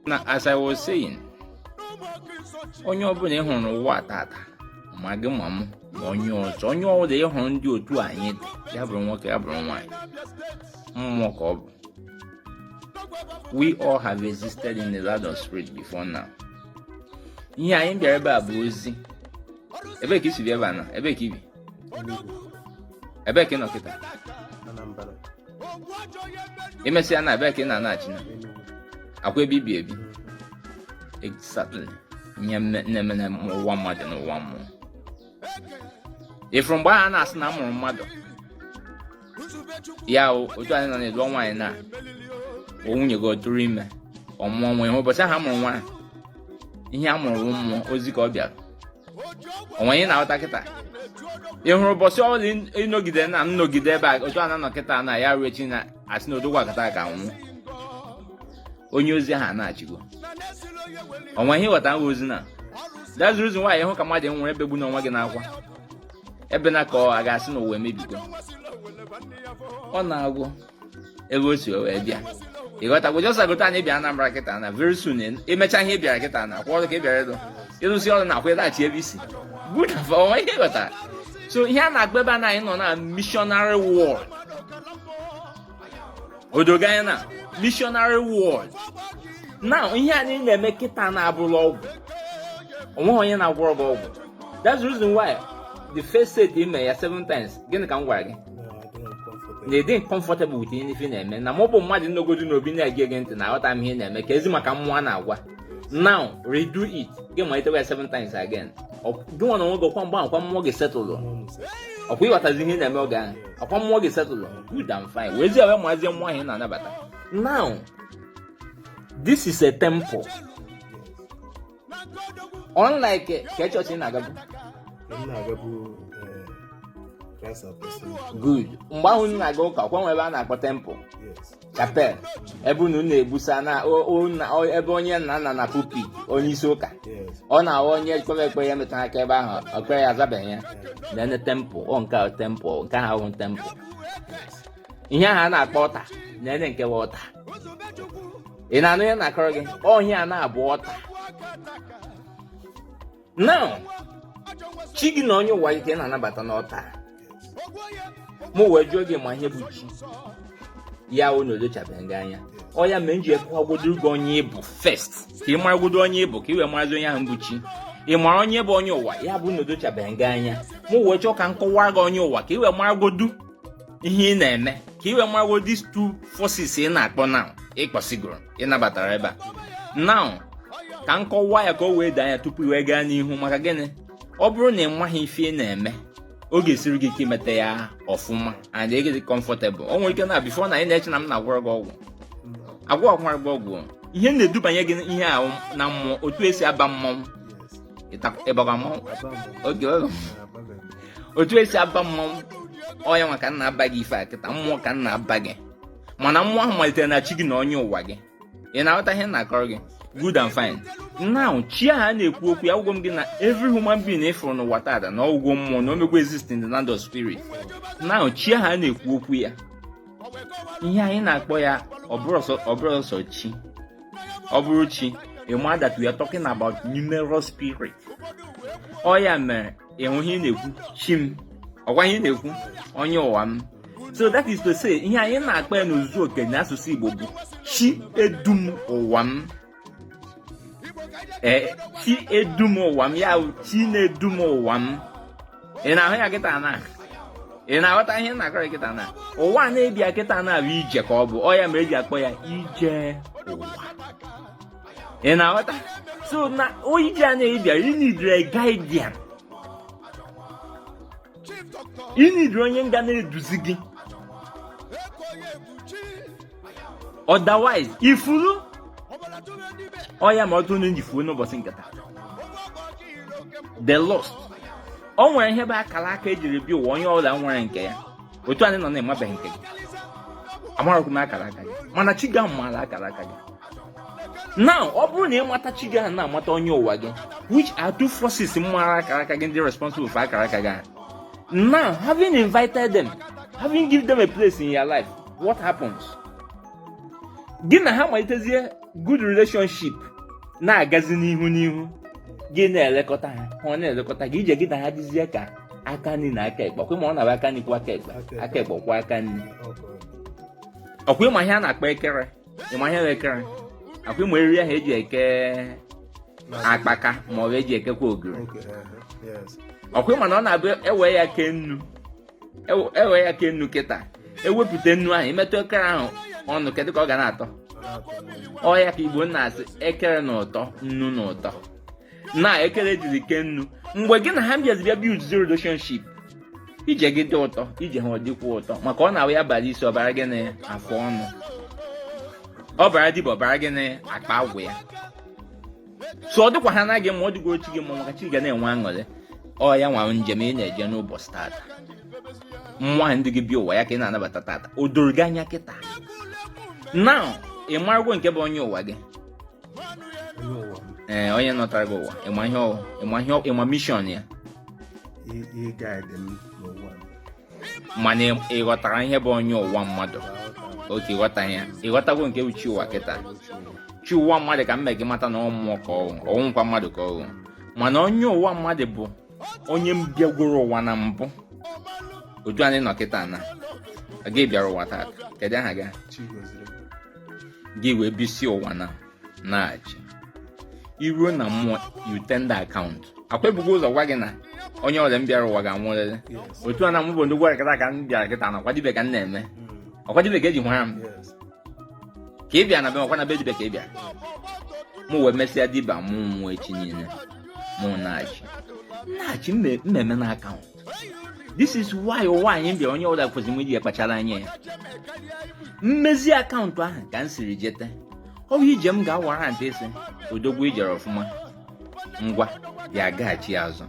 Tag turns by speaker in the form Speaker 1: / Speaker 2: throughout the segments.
Speaker 1: now as i was saying onye ọbụla ị hụrụ n'ụwa tata ma gị ma m ma onye ọzọ onye ọbụla ị hụrụ n'ụdị otu anyị dị ya bụrụ nwoke ya bụrụ nwaanyị mmụọ ka ọ bụ we all have existed in the land of spirit before now ihe anyị bịara ebe a bụ ozi ebee ka i si bịa ebe a na ebee ka i bi ebee ka ị nọ kịta i mesịa na ebee ka ị na-anaghachi na ọkwa ebe i bi ebi exactly ihe na-eme na ụwa mmadụ na ụwa mmụọ ị fụrụ mgbe a na-asị na a mụrụ mmadụ ya otu anyị nọ na ị lụọ nwaanyị na ọ nwunye gị ọ tụrụ ime ọ mụọ nwa ị hụrụ ụbọchị ahụ a mụrụ nwa ihe a mụrụ mmụọ ozi ka ọ bịara o nwe ihe ị na-aghọta kịta ị hụrụ ụbọchị ọbụla ị nọgide na nnọgide ebe a otu a na-anọ kịta na ya ruo echi na a sị na odogwu akataka nwụ onye ozi ahụ anachigo o nwe ihe ị ghọta nwa ozi na that's the reason why ị hụ ka mmadụ nwụrụ ebegbuna onwe gị n'akwa ebena ka a ga-asị na ụwa emebigo ọ nago ebe o si wee bịa ị ghọtago just agụta anyị bịa Anambra kịta na very soon i mecha ihe ị bịara kịta na ọkwa ọrụ ka ị bịara ịlụ ị lụsịa ọrụ na ọkwa ị laghachi ebe i si good o nwe ihe ị ghọtara so ihe a na-agba ebe a na anyị nọ na missionary world o dogo anya na missionary world now ihe anyị na-eme kịta na abụrọ ọgwụ onweghị onye na-agwọrọ gị ọgwụ that's the reason why the first set i me ya seven times gịnị ka m gwara gị na ị dị comfortable with ihe ị na-eme na mụ bụ mmadụ nọgodu n'obi na-ege gị ntị na aghọta m ihe ị na-eme kezi maka mmụọ ị na-agwa now redo it gị malitewa ya seven times again gị nwa na onwe gị ọkwa mgbe ahụ kwa mmụọ gị setụlụ ọkwa ị ghọtazi ihe na-eme oge ahụ ọkwa mmụọ gị setụlụ good and fine wee zie wee mazie mmụọ ahụ ị na-anabata now this is a temple unlike ka chọọchị ị na-agabu good mgbe ahụ m na-aga ụka ọkwa e nwe ebe a na-akpọ temple chapel ebe unu na-egbusa na ebe onye na-anọ na pulpit onye isi ụka ọ na-awụ onye kpere ekpere ya metara aka ebe ahụ ekpere ya azabeghị ya nene temple ọ nke ahụ temple nke ahụ ahụ temple ihe ahụ a na-akpọ altar nene nke bụ altar ị na-anụ ihe m na-akọrọ gị ọ ihe a na-abụ altar now chi gị na onye ụwa ike na-anabata n'ọta mụ wee jụọ gị ma ihe bụ chi ya bụ na odochabeghị gị anya ọ ya mere m ji akọwagodo gị onye ị bụ first ka ị maragodo onye ị bụ ka ị wee marazi onye ahụ bụ chi ị mara onye bụ onye ụwa ya bụ na odochabeghị gị anya mụ wee chọọ ka m kọwara gị onye ụwa ka ị wee maragodu ihe ị na-eme ka ị wee maragodu these two forces ị na-akpọ na ị kpọsigoro ị nabatara ebe a now ka m kọwaa ya ka o wee doo anya tupu i wee gaa n'ihu maka gịnị ọ bụrụ na ị maghị ife ị na-eme ọ ga-esiri gị ike imeta ya ọfụma and ịdị comfortable o nwere ike na before now ị na-eche na m na-agwọrọ gị ọgwụ agwọkwara gị ọgwụ ihe na-edubanye gị ihe ahụ na mmụọ otu esi aba mmọnwụ ịbagwa mmọnwụ oge otu esi aba mmọnwụ ọ ya nwa ka m na-aba gị ife a kịta mmụọ ka m na-aba gị mana mmụọ ahụ malitere na chi gị na onye ụwa gị ị na-aghọta ihe m na-akọrọ gị good and fine now chi ahụ a na-ekwu okwu ya agwago m gị na every human being ị fụrụ n'ụwa taata na ọ wụgo mmụọ na o mego exist in the land of spirit now chi ahụ a na-ekwu okwu ya ihe anyị na-akpọ ya ọ bụrọ sọsọ chi ọ bụrụ chi ị ma that we are talking about numerous spirit ọ ya mere ịhụ ihe ị na-ekwu chi m ọkwa ihe ị na-ekwu onye ụwa m so that is to say ihe anyị na-akpọ ya n'ozuzu oke n'asụsụ Igbo bụ chi edum ụwa m ee eh, chi edum ụwa m ya chi na-edum ụwa m ị na-ahụ ya kịta na ị na-aghọta ihe m na-akọrọ kịta na ụwa anyị bịara kịta na ọ bụ ije ka ọ bụ ọ ya mere eji akpọ ya ije ụwa ị na-aghọta so na ije anyị bịara ị needịrị guardian ị needịrị onye ga na-eduzi gị otherwise i furu ọ ya mere ọtụtụ ndị ji fuo n'ụbọchị nke taa they lost o nwere ihe bụ akara aka ejiri bịa ụwa onye ọbụla nwere nke ya otu anyị nọ now ị mabeghị nke gị amarọkwa m akara aka gị mana chi gị maara akara aka gị now ọ bụrụ na ị mata chi gị ahụ na-amata onye ụwa gị which are two forces mara akara aka gị ndị responsible for akara aka gị ahụ now having invited them having given them a place in your life what happens gị na ha malitezie good relationship na-agazi n'ihu n'ihu gị na-elekọta ha ha na-elekọta gị ije gị na ha dịzie ka aka nri na aka ekpe ọkwa ịma ọ na-abụ aka nri kwọọ aka ekpe aka ekpe akwọọ aka nri ọkwa ịma ihe a na-akpọ ekere ịma ihe ekere ọkwa ịma eriri ahụ eji eke akpaka ma ọ bụ eji ekekwa ogiri uh-huh. ọkwa ịma na ọ na-abụ ewere ya kee nnu ewere ya kee nnu kịta ewepụta nnu ahụ i metụ ekere ahụ ọnụ kedụ ka ọ ga na-atọ ọ ya ka Igbo na-asị ekere na ụtọ nnu na ụtọ na ekele dịrị ke nnu mgbe gị na ha bịazi bịa build the relationship ije gị dị ụtọ ije ha ọ dịkwa ụtọ maka ọ na-awụ ya bara isi ọ bara gị na afọ ọnụ ọ bara dibịa ọ bara gị na akpa agwụ ya so ọ dịkwa ha na gị mma ọ dịkwa chi gị mma maka chi ga na-enwe aṅụrị ọ ya nwa njem ị na-eje n'ụbọchị tata nwa ndị gị bịa ụwa ya ka ị na-anabata tata o doro gị anya kịta na ị marụgo nke bụ onye ụwa gị ee onye nọtara gị ụwa ị ma ihe ọ wụ ị ma ihe ị ma mission ya mana ị ghọtara ihe bụ onye ụwa mmadụ okay ị ghọta ya ị ghọtago nke bụ chi ụwa kịta chi ụwa mmadụ ka m mee gị mata na ọ mmụọ ka ọ wụ ọ wụghịkwa mmadụ ka ọ wụ mana onye ụwa mmadụ bụ onye bịagworo ụwa na mbụ otu anyị nọ kịta na gị bịara ụwa taa kedu aha gị gị wee bisie ụwa naa nachie i ruo na mmụọ you tender account ọkwa e bugo ụzọ gwa gị na onye ọbụla bịara ụwa ga-anwụrịrị otu a na mụ bụ ndị gwara kịta ka m bịara kịta na ọkwa dibịa ka m na-eme hmm. ọkwa dibịa ka e ji mara m ka ị bịa na be ọkwa na be dibịa ka ị bịa mụ wee mesịa dibịa mụ nwa echi niile mụ nachie nachie mmemme na account this is why ụwa anyị bịa onye ọbụla kwesịrị iji ya kpachara anya ya mmezi account ahụ ka m siri jeta ọ bụ ije m ga-awara ntị isi odogwu i jere ọfụma ngwa ị ga-agaghachi ọzọ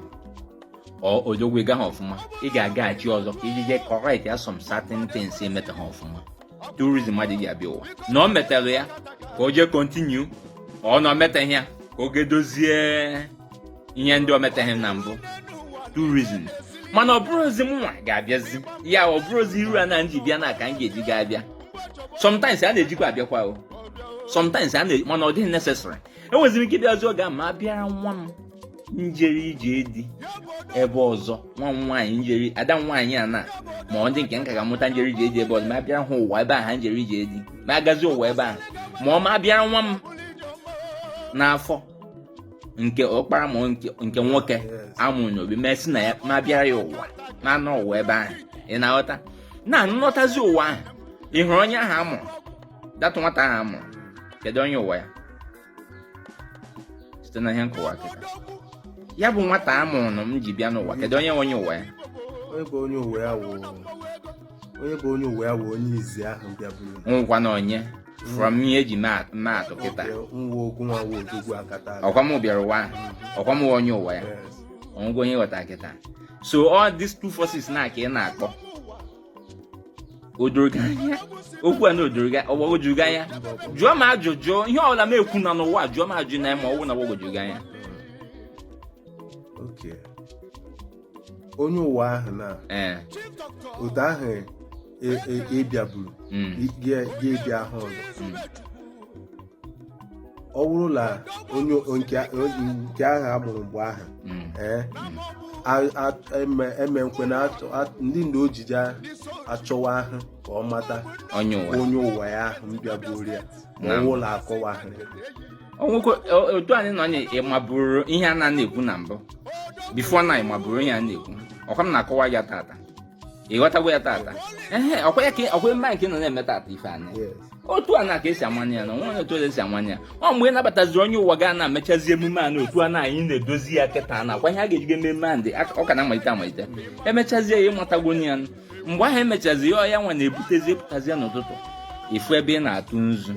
Speaker 1: or odogwu ị gaghị ọfụma ị ga-agaghachi ọzọ ka i ji jee correct ya some certain things i metaghị ọfụma two reasons mmadụ ji abịa ụwa na ọ metara ya ka o jee continue or na o metaghị ya ka o jee dozie ihe ndị o metaghị na mbụ two reasons mana ọ bụrụzi mụnwa ga-abịazi ya ọ bụrụzi iru a na m ji bịa na ka m ga-eji ga abịa sometimes a na-ejikwa abịakwa o sometimes a na mana ọ dịghị necessary enweziri m ike ịbịazi oge a m abịara nwa m jere ije di ebe ọzọ nwa m nwaanyị jere ada nwaanyị a na ma ọ ndị nke nka ga-amụta jere ije di ebe ọzọ m abịara ha ụwa ebe ahụ ha jere ije di m agazi ụwa ebe ahụ ma ọ m abịara nwa m n'afọ nke ọkpara ma nke nwoke a mụrụ n'obi m esi na ya m abịara ya ụwa m anọ ụwa ebe ahụ ị na-aghọta na m nọtazi ụwa ahụ ị hụrụ onye ahụ a mụrụ that nwata ahụ a mụrụ kedu onye ụwa ya site na ihe m kọwa kịta ya bụ nwata a mụrụ m ji bịa n'ụwa kedu onye onye ụwa ya onye bụ onye ụwa
Speaker 2: ya wụ onye bụ onye ụwa ya wụ onye izizi ahụ bịaburu nwụọkwa naa
Speaker 1: onye from ihe e ji maa atụ kịta ọkwa mụ nwa wụ odogwu akataka ọkwa m bịara ụwa ahụ ọkwa m onye ụwa ya o nwego onye ghọta kịta so all these two forces na ka ị na-akpọ okwu a na o doro gị ọ gbagwoju gị anya jụọ m ajụjụ ihe ọbụla m ekwu na n'ụwa jụọ m ajụjụ na ma ọ wụ na ọ gbagwoju gị anya
Speaker 2: onye ụwa ahụ na otu ahụ ị bịaburu e, e, e, mm. ga-ebi ahụ ọzọ mm. ọ bụrụ na nke ahụ a mụrụ mgbe ahụ hmm. eh, eme nkwe na ndị nna ojije achọwa ahụ ka ọ mata onye ụwa ya ahụ bịaburu ya ma ọ wụ na a kọwa
Speaker 1: ahụ otu anyị nọ na ị maburu ihe a na-ekwu na mbụ before na ị maburu ihe a na-ekwu ọ ka m na-akọwa ya tata ị ghọtago ya tata ehe ọkwa ya ka ọkwa mba nke nọ na-eme tata ife anyị otu a na ka esi amanye ya na nwa otu esi amanye ya ọ mgbe ị nabataziri onye ụwa gị na-emechazi emume a na otu a na anyị na-edozi ya kịta na akwa ihe a ga-ejigo ememe a ndị ọ ka na-amalite amalite emechazie ya ị matago ya mgbe ahụ emechazi ya ọ ya nwa na-ebutezi pụtazi ya n'ụtụtụ ị fụ ebe ị na-atụ nzu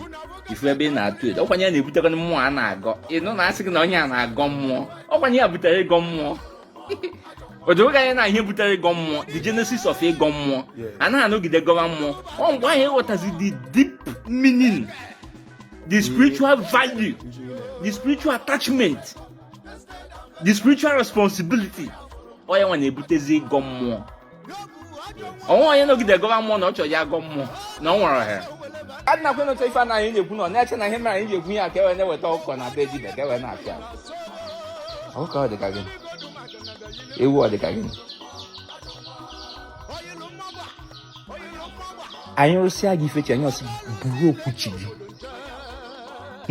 Speaker 1: ị fụ ebe ị na-atụ edo ọ kwanụ ya na-ebutekwana mmụọ a na-agọ ị nụ na a sị gị na onye a na-agọ mmụọ ọ kwanụ ya butere ịgọ mmụọ o do gị anya na ihe butere ịgọ mmụọ the genesis of ịgọ mmụọ anaghị anọgide gọwa mmụọ ọ mgbe ahụ ị ghọtazi the deep meaning the spiritual value the spiritual attachment the spiritual responsibility ọ ya nwa na-ebutezi ịgọ mmụọ o nwe onye nọgide gọba mmụọ na ọ chọrọ ya gọ mmụọ na ọ nwere ohere adịna kwe nọta ife anyị na-ekwu na ọ na-eche na ihe mere anyị ji ekwu ya ka e wee na-eweta ọkụkọ na be dibịa ka e wee na-apịa ọkụkọ ọ dịka gịnị ewu ọ dịka gịnị anyị rụsịa gị ife chi anyị ọ sị buru okwu chi gị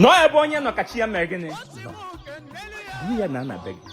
Speaker 1: nọọ ebe onye nọ ka chi ya mere gịnị buru ya naa na be gị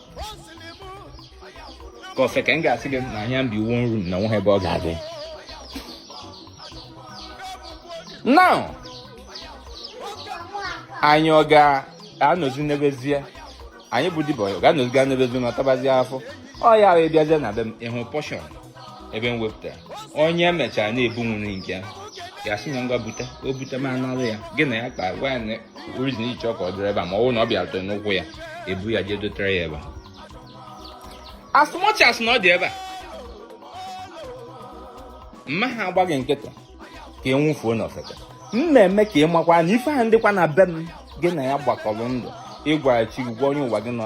Speaker 1: ka ofeke ga-asị gị na ya bi one room na nweghị ebe ọ ga-adị na anyị ọ ga-anọzi n'ebezie onye bụ dibịa ọ ga-anọzi ga n'ebezie na tabazie afọ ọ ya wee bịazie na be m ị hụ portion ebe m wepụtara onye e mechara na-ebunwuru nke ya ya sị na ngwa bute o bute m anara ya gị na ya kpa gwa ya na ọ reason i ji chọọ ka ọ dịrị ebe a ma ọ bụrụ na ọ bịara tụrụ n'ụkwụ ya ebu ya jee dotere ya ebe a as much as na ọ dị ebe a mma ha agbaghị nkịtị ka ị nwụfuo n'ofeke m na-eme ka ị makwa na ife ahụ dịkwa na be m gị na ya gbakọrọ ndụ ị gwara chi gị gwa onye ụwa gị nọ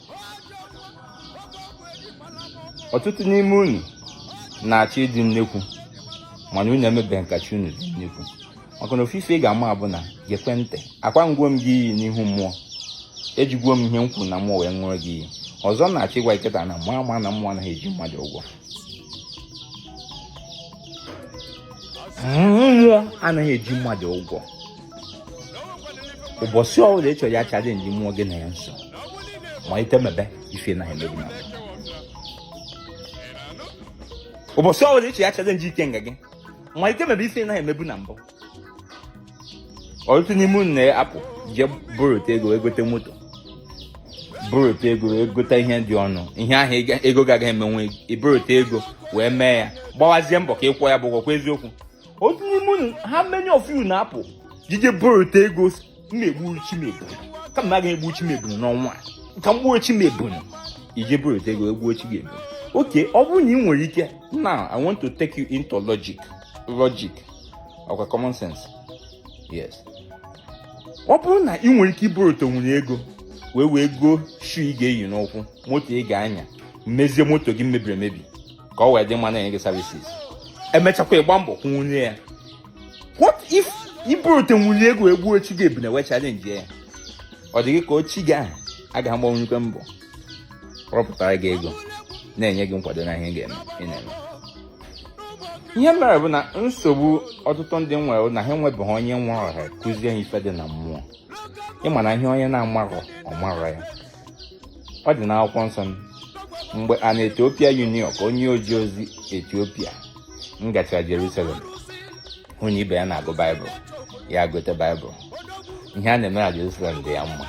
Speaker 1: ọtụtụ n'ime unu na-achọ ịdị nnekwu mana unu emebeghị ka chi unu dị nnekwu maka na ofu ife ị ga-ama bụ na gekwe ntị ọkwa aṅụgwo m gị iyi n'ihu mmụọ ejigwo m ihe m kwuru na mmụọ wee ṅụrụ gị iyi ọzọ na-achọ ịgwa kịta na mụ ama na mmụọ anaghị eji mmadụ ụgwọ mmụọ anaghị eji mmadụ ụgwọ ụbọchị ọbụla ị chọrọ ya challenge mmụọ gị na ya nso malite mebe ife ị na-emebu na ụbọchị ọbụla ị chọrọ ya challenge ikenga gị malite mebe ife ị na-emebu na mbụ ọtụtụ n'ime unu na-apụ jee borota ego egote moto borota ego egote ihe dị ọnụ ihe ahụ ego gị agaghị emenwu i borota ego wee mee ya gbawazie mbọ ka ị kwụọ ya bụ ụgwọ ọkwa eziokwu otu n'ime unu how many of you na-apụ jee borota ego na-egbu chi m ebunu kama m agaghị egbu chi m ebunu n'ọnwa a ka m gbuo chi m ebunu i jee borota ego egbuo chi gị ebunu okay ọ bụrụ na ị nwere ike now i want to take you into logic logic ọkwa common sense yes ọ bụrụ na ị nwere ike iborotanwu ego wee wee goo shoe ị ga-eyi n'ụkwụ moto ị ga-anya mezie moto gị mebiri emebi ka ọ wee dị mma na-enye gị services emechakwa ị gba mbọ kwụnwuo ya what if i borotanwu ego egbuo chi gị ebunu wee challenge ya ọ dị gị ka chi gị ahụ agaghị agbanwukwa mbọ rọpụtara gị ego na-enye gị nkwado na ihe ị ga-eme ị na-eme ihe mere bụ na nsogbu ọtụtụ ndị nwere na ha enwebeghị onye were ha kụzie ha ife dị na mmụọ ị ma na ihe onye na-amarọ ọ marọ ya ọ dị n'akwụkwọ nsọ mgbe an ethiopian eunuch a onye oje ozi etiopia ngachara jerusalem hụ na ibe ya na-agụ baịbụl ya gote baịbụl ihe a na-eme na jerusalem dị ya mma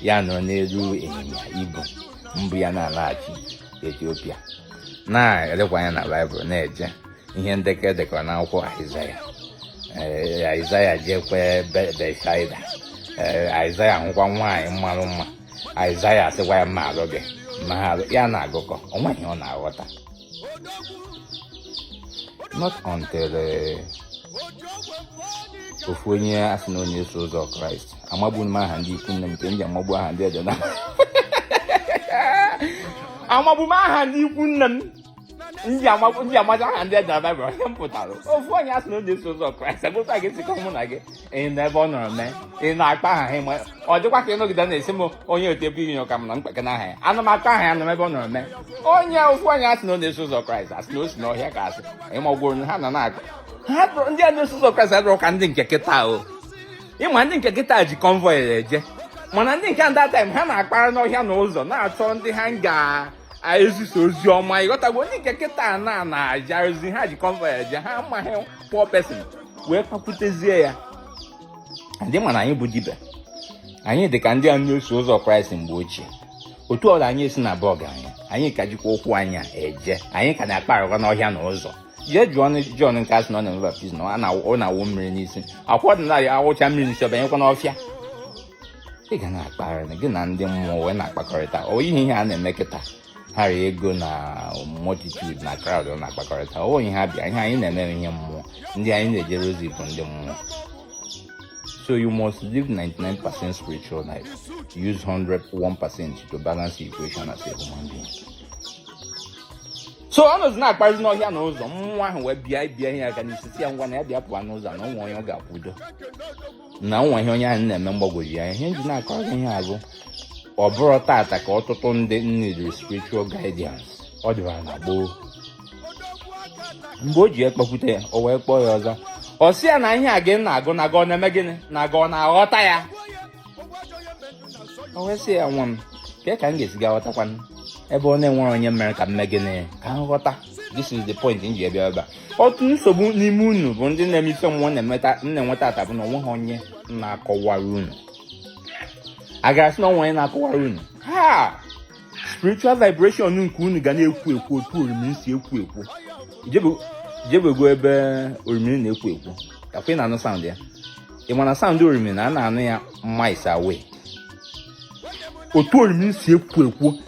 Speaker 1: ya nọ n'elu ịnyịnya ibu mbu ya na-alaghachi etiopia na-elekwa anya na baịbụl na-eje ihe ndekọ e dekọrọ n'akwụkwọ aịzaya ee aịzaya jekwa Be- betsaida ee aịzaya hụkwa nwaanyị mmarụ mma aịzaya asịkwa ya m ma-alụ gị ma ha alụ ya na-agụkọ o nweghị ihe ọ na-aghọta not until eh, ofu onye a sị na ọ na-eso ụzọ kraịst amagbu m aha ndị ikwu nne m nke m ji amagbu aha ndị ede na amagbu m aha ndị ikwu nne m ndị amaja aha ndị e dere na baịbụl onye m pụtara ofu onye asị na onye so ụzọ kraịst agụta gị sikọ mụ na gị ị na ebe ọ nọrọ mee ị na-akpa aha ha ọ dịkwa ka ịnọgide na-esi m onye otu ebe inyo ka m na mkpeke na aha ya ana m akpa aha ya na ebe ọ nọrọ mee onye ofu onye asị na ọ na-eso ụzọ kraịst asị na o si n'ọhịa ka asị ịmagworo ha na na-akpa ha ndị a na-eso ụzọ kraịst adịrọ ka ndị nke kịta o ịma ndị nke kịta ji convoy eje mana ndị nke that time ha na-akparị n'ọhịa na ụzọ na-achọ ndị ha ga ezisa ozi ọma ịghọtago ndị nke kịta na na-eje ozi ha ji convoy eje ha amaghị poor person wee kpakwutezie ya ndị mana anyị bụ dibịa anyị dị ka ndị a na-eso ụzọ kraịst mgbe ochie otu ọla anyị esi na-abụ ọgaranya anyị ka jikwa ụkwụ anyị eje anyị ka na-akparịkwa n'ọhịa na ụzọ jee jụọ John nke asị na ọ na-eme baptizim ọ na-awụ mmiri n'isi akwụkwọ ọdịnala ya awụcha mmiri n'isi ọbanyekwa n'ọfịa ị ga na-akpagharị na gị na ndị mmụọ wee na-akpakọrịta ọ ihe ihe a na-eme kịta ha rịa ego na multitude na crowd ọ na-akpakọrịta ọ ihe ha bịa ihe anyị na-eme ihe mmụọ ndị anyị na-ejere ozi bụ ndị mmụọ so you must live 99% spiritual life use 1% to balance the equation as a human being so ọ nọzi na-akparịzi n'ọhịa na ụzọ mmụọ ahụ wee bịa bie ya aka n'isi sị ya ngwa na ya bịa pụọ n'ụzọ na o nwe onye ọ ga-ekwudo na o nwe ihe onye ahụ na-eme na-agbagwoju ya ihe m ji na-akọ gị ihe a bụ ọ bụrọ tata ka ọtụtụ ndị needịrị spiritual guidance ọ dịbara na gboo mgbe o ji ekpekwute ya o wee kpọọ ya ọzọ ọ sị ya na ihe a gị na-agụ na gị ọ na-eme gịnị na gị ọ na-aghọta ya o wee sị ya nwa m kee ka m ga-esi aghọtakwanụ ebe ọ na-enwerọ onye mere ka m mee gịnị ka m ghọta this is the point m ji bịa ebe a otu nsogbu n'ime unu bụ ndị na-eme ife mmụọ na-enwe tata bụ na o nwehọ onye na-akọwara unu a gara asị na o nwe onye na-akọwara unu ha spiritual vibration nke unu ga na-ekwo ekwo otu orimi si ekwo ekwo i jebego ebe orimi na-ekwo ekwo kakwa ị na-anụ sound ya ị ma na sound orimi na a na-anụ ya miles away otu orimi si ekwo ekwo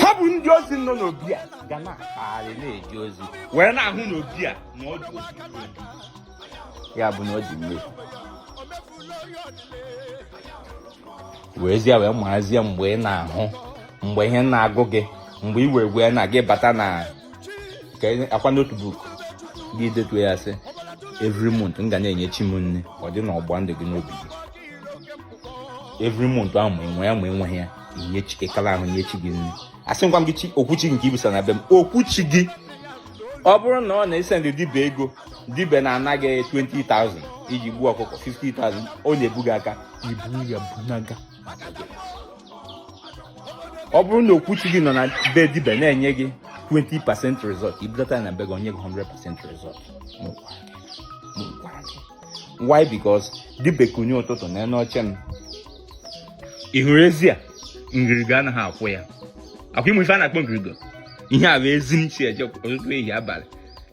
Speaker 1: ha bụ ndị ozi nọ n'obi a ga na-akpagharị na-eje ozi wee na-ahụ n'obi a na ọ dị ozi ya bụ na ọ dị mmiri weezie wee maazie mgbe ị na-ahụ mgbe ihe na-agụ gị mgbe i wee wee na gị bata na akwa notebook gị detuo ya sị every month m ga na-enye chi m nne ọ dị na ọgba ndụ gị n'obi gị every month ahụ ma e nwee ya ma e nweghị ya i nye chikekala ahụ nye chi gị nri asị ngwa m gị chi okwuchi nke ibisa na be m okwuchi gị ọ bụrụ na ọ na-ese ndị dibe ego dibe na-ana gị 20,000 iji gbuo ọkụkọ 50,000 ọ na-ebu gị aka ibu ya bunaga ọ bụrụ na okwuchi gị nọ na be dibe na-enye gị 20 percent result i budata na be gị o nye gị 100 percent result m gwara gị why because dibe kunie ụtụtụ nọ n'oche m ị hụrụ ezi a ngirigo anaghị akwụ ya akwụ ị ma ife a na-akpọ ngirigo ihe a bụ ezi m si eje ụtụtụ ehihie abalị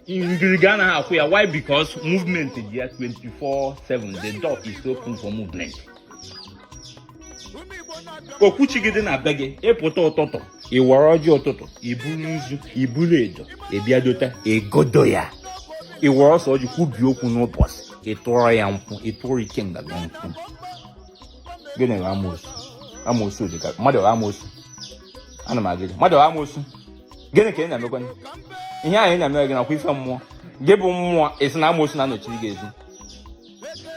Speaker 1: ngirigo anaghị akwụ ya why because movement dị ya 24/7 the door is open for movement okwuchi gị dị na be gị ị pụta ụtụtụ ị wara ọjị ụtụtụ i buru nzu i buru edo ị bịa dota egodo ya ị wara ose ọjị kwubi okwu n'ụbọchị ị tụọrọ ya nkwụ ị tụọrọ ikenga gị nkwụ gịnị bụ amoosu amoosu dị ka mmadụ bụ amoosu ana m agwa gị mmadụ bụ amoosu gịnị ka ị na-emekwa ihe ahụ ị na-emere gị nakwa ife mmụọ gị bụ mmụọ asị na amoosu na-anọchiri gị ezi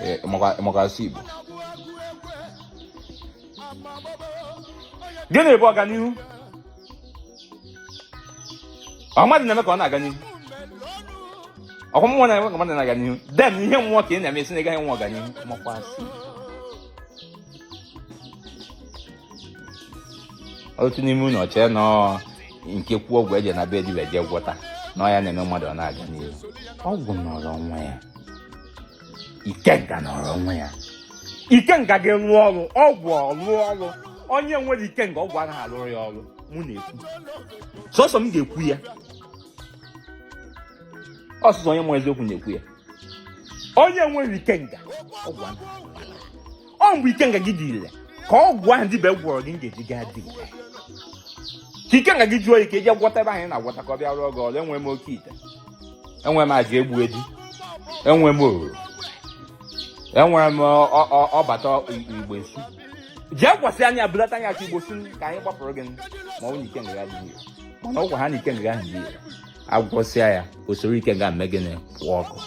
Speaker 1: eh, maka a sụọ Igbo gịnị bụ ọganihu ọ mmadụ na-eme ka ọ na-aga n'ihu ọkwa mmụọ na-eme ka mmadụ na-aga n'ihu then ihe mmụọ ka ị na-eme asị na ị gaghị enwe ọganihu makwa asị otu n'ime unu o chee na ọ nke kwuo ọgwụ e je na be dibe je gwọta na ọ ya na-eme mmadụ ọ na-aga n'ihu ọgwụ nọrọ onwe ya ikenga nọrọ onwe ya ikenga ga-arụ ọrụ ọgwụ arụọ ọrụ onye nwere ikenga ọgwụ anaghị alụrụ ya ọrụ mụ na-ekwu sọsọ m ga-ekwu ya ọ sọsọ onye ma eziokwu na-ekwu ya onye nwere ikenga ọgwụ anaghị ọ mgbe ikenga gị dị ile ka ọgwụ ahụ dibe gwọrọ gị ga-eji gaa dị ile ka ikenga gị jụọ ike i je gwọta ebe anyị na-agwọta ka ọ bịa rụọ gị ọrụ enwe m oke ite enwe m aja egbu eji enwe m oruru enwere m ọbata igbo esu jee gwasị anya bulata anya ka igbo si ka anyị gbapụrụ gị ma ọ bụ na ikenga gị dị ile mana ọgwụ ha na ikenga gị dị ile a gwọsịa ya o soro ikenga eme gịnị pụọ ọkụ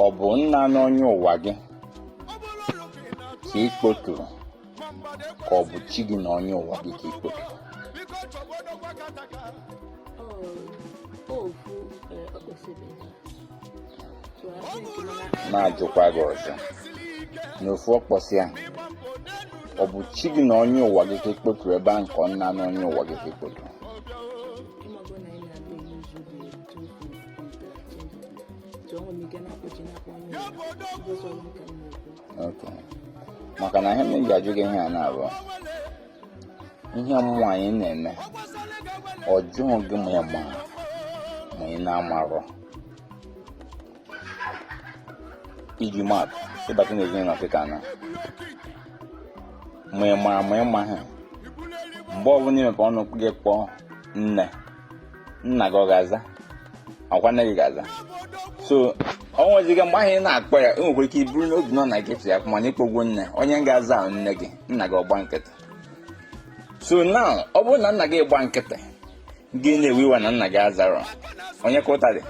Speaker 1: ọ bụ nna na onye ụwa gị ka ị kpoturu ka ọ bụ chi gị na onye ụwa gị ka ị kpoturu na-ajụkwa gị ọzọ n'ofu ọkpọsị ahụ ọ bụ chi gị na onye ụwa gị ka e kpoturu ebe ahụ ka ọ nna na onye ụwa gị ka e kpoturu maka na ihe m ji ajụ gị ihe a na-abụọ ihe mmụọ anyị na-eme ọ jụghị gị ma ị mara ma ị na-amarọ iji maatụ ị bata n'ezinụlọ Afrịka na ma ị mara ma ị maghị mgbe ọbụla i mepe ọnụ gị kpọọ nne nna gị ọ ga-aza ọkwa nne gị ga-aza so ọ nweziga mgbe ahụ ị na-akpọ ya i nwekwara ike iburu n'obi na ọ nna gị ya mana ị kpọgwo nne onye ga-aza wụ nne gị nna gị ọ gba nkịtị so now ọ bụrụ na nna gị gba nkịtị gị na-ewe iwe na nna gị azarọ onye ka ụta dị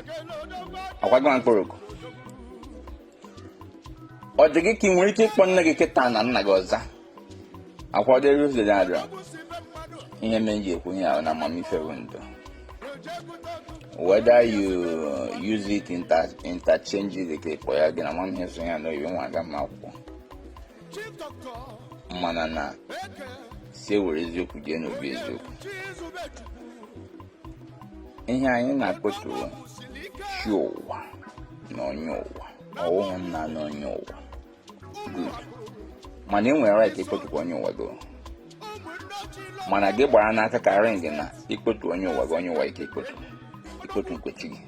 Speaker 1: ọkwa gị nwa kpọrọ oku ọ dị gị ka ị nwere ike ịkpọ nne gị kịta na nna gị ọ za ọkwa ọ dịrọ ụzọ dị adịrọ ihe mere m ji ekwu ihe a wụ na amamife bụ ndụ whether you use it inter interchangeably ka ịkpọ ya gị na amamihe so ya n'oyibo nwa aga m akwụkwọ mana na sị e were eziokwu jee n'obi eziokwu ihe anyị na-akpọtụ chi ụwa na onye ụwa ọwụghị nna na onye ụwa mana ị nwere right ịkpọtụkwa onye ụwa gị mana gị gbara n'aka ka ring na ikpotu onye ụwa gị onye ụwa gị ka ikpotu ikpotu nke chi gị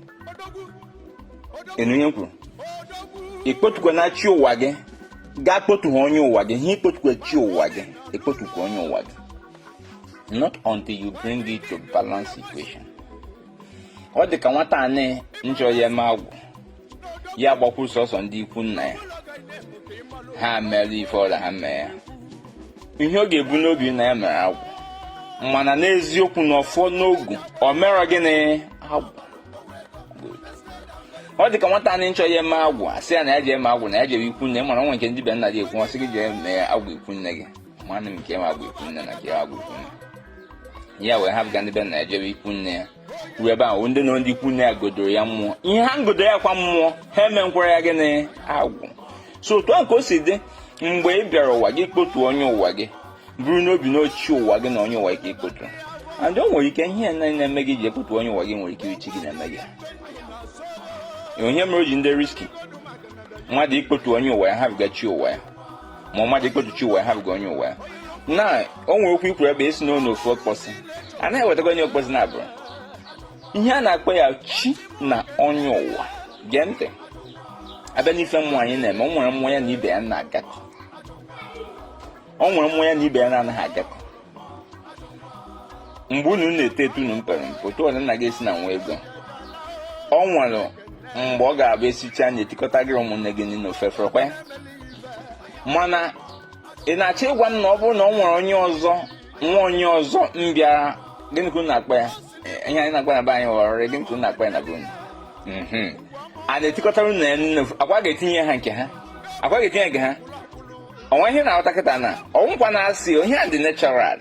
Speaker 1: ị nụ ihe m kwuru ikpotukwa na chi ụwa gị gaa kpotu ha onye ụwa gị ha ikpotukwa chi ụwa gị ikpotukwa onye ụwa gị not until you bring it to balance equation ọ dị ka nwata anyị nchọ ya eme agwụ ya gbakwuru sọsọ ndị ikwu nna ya ha mere ife ọbụla ha mee ya ihe ọ ga-ebu n'obi na ya mere agwụ mana n'eziokwu n'ọfọ na ogu ọ merọ gịnị agwụ ọ dị ka nwata anyị nchọ ya eme agwụ a sị ya na ya je eme agwụ na ya jere ikwu nne mana nwe nke ndị be nna gị ekwu ọ sị gị jee mee agwụ ikwu nne gị nwanne m nke nwa bụ ikwu nne na nke nwa bụ ikwu nne ya wee hapụga ndị be nna ya jebe ikwu nne ya ruo ebe ahụ ndị na ndị ikwu nne ya godoro ya mmụọ ihe ha ngodo ya kwa mmụọ ha emekwara ya gịnị agwụ so otu ahụ ka o si dị mgbe ị bịara ụwa gị kpotu onye ụwa gị buru n'obi na ọ chi ụwa gị na onye ụwa gị ka ikpotu and o nwere ike ihe na na-eme gị ji ekpotu onye ụwa gị nwere ike chi gị na-eme gị ọ ya mere o ji dị risky mmadụ ikpotu onye ụwa ya hapụga chi ụwa ya ma mmadụ ikpotu chi ụwa ya hapụga onye ụwa na o nwere okwu i kwuru ebe ị sị n'onye ofu okpọsị a na-ewetago onye okpọsị na-abụrụ ihe a na-akpọ ya chi na onye ụwa gee ntị a bịa n'ife mmụọ anyị na-eme o nwere mmụọ ya na ibe ya na-agakọ o nwere mmụọ ya na ibe ya na-anaghị agakọ mgbe unu na-eto eto unu mpere mpe otu ọ dị nna gị esina nwee ego ọ nwere mgbe ọ ga-abụ esichaa nri etikọtara gị ụmụnne gị niile ofu efere kwa mana ị na-achọ ịgwa m na ọ bụrụ na ọ nwere onye ọzọ nwa onye ọzọ bịara gịnị ka unu akpọ ya ihe anyị na-akpọ na be anyị wụ ọrịrị gịnị ka unu akpọ ya na be unu mhm. a na-etikọtara unu na ya nri ọ kwa a ga-etinye ha nke ha ọ kwa a ga-etinye nke ha o nwee ihe ị na-aghọta kịta na ọ wụkwa na-asị ihe a dị natural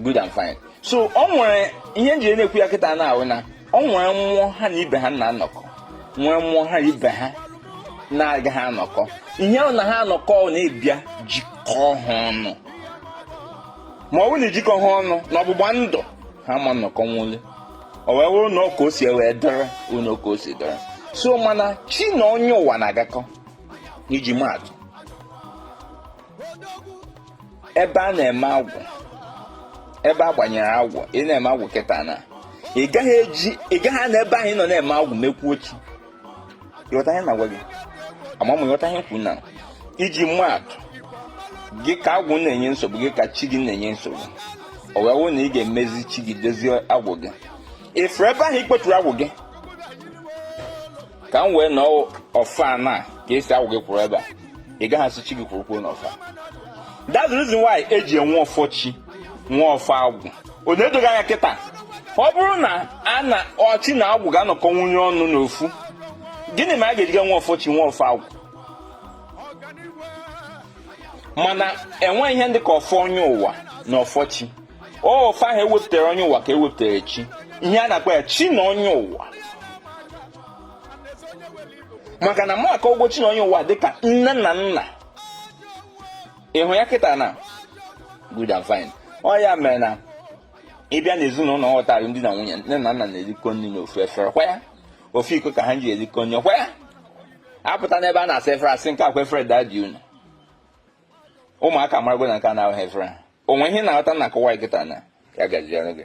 Speaker 1: good and fine so ọ nwere ihe m ji na-ekwu ya kịta na ọ wụ na ọ nwere mmụọ ha na ibe ha na-anọkọ nwee mmụọ ha na ibe ha na-agaghị anọkọ ihe ahụ na ha anọkọ na a bịa jikọọ ha ọnụ ma ọ bụrụ na ejikọ ha ọnụ na ọgbụgba ndụ ha ma nnọkọ nwụle o wee wụrụ na ọ ka o si wee dọrọ unu ka o si dọrọ so mana chi na onye ụwa na-agakọ iji maa atụ ebe a na-eme agwụ ebe a gbanyere agwụ ị na-eme agwụ kịta na ị gaghị eji ị gaghị na ebe ahụ ị nọ na-eme agwụ mekwuo chi ị ghọta ihe m na-agwa gị ama m ị ghọta ihe m kwuru na iji maa atụ gị ka agwụ na-enye nsogbu gị ka chi gị na-enye nsogbu ọ wee wụ na ị ga-emezi chi gị dozie agwụ gị ị fụrụ ebe ahụ i kpeturu agwụ gị ka m wee nọọ ọfa na ka ị sị agwụ gị kwụrụ ebe a ị gaghị asị chi gị kwụrụkwuo n'ọfa that's the reason why eji enwe ọfọ chi nwee ọfọ agwụ ọ na-edo gị anya kịta ọ bụrụ na chi na agwụ ga-anọkọ nwunye ọnụ n'ofu gịnị mere a ga-eji nwee ọfọ chi nwee ọfọ agwụ mana enweghị ihe dị ka ọfọ onye ụwa na ọfọ chi ọfọ ahụ ewepụtara onye ụwa ka ewepụtara chi ihe a na-akpọ ya chi na onye ụwa maka na maka ụgwọ chi na onye ụwa dịka nne na nna ị hụ ya kịta na good and fine ọ ya mere na ị bịa n'ezinụlọ ghọtara di na nwunye nne na nna na-erikọ nri n'ofu efere kwa ya ofu iko ka ha ji erikọ nri kwa ya apụta n'ebe a na-asa efere a sị nke a kwa efere daddy unu ụmụaka marago na nke a na-ahụ ha efere o nwee ihe ị na-aghọta na nkọwa kịta na ya gaziere gị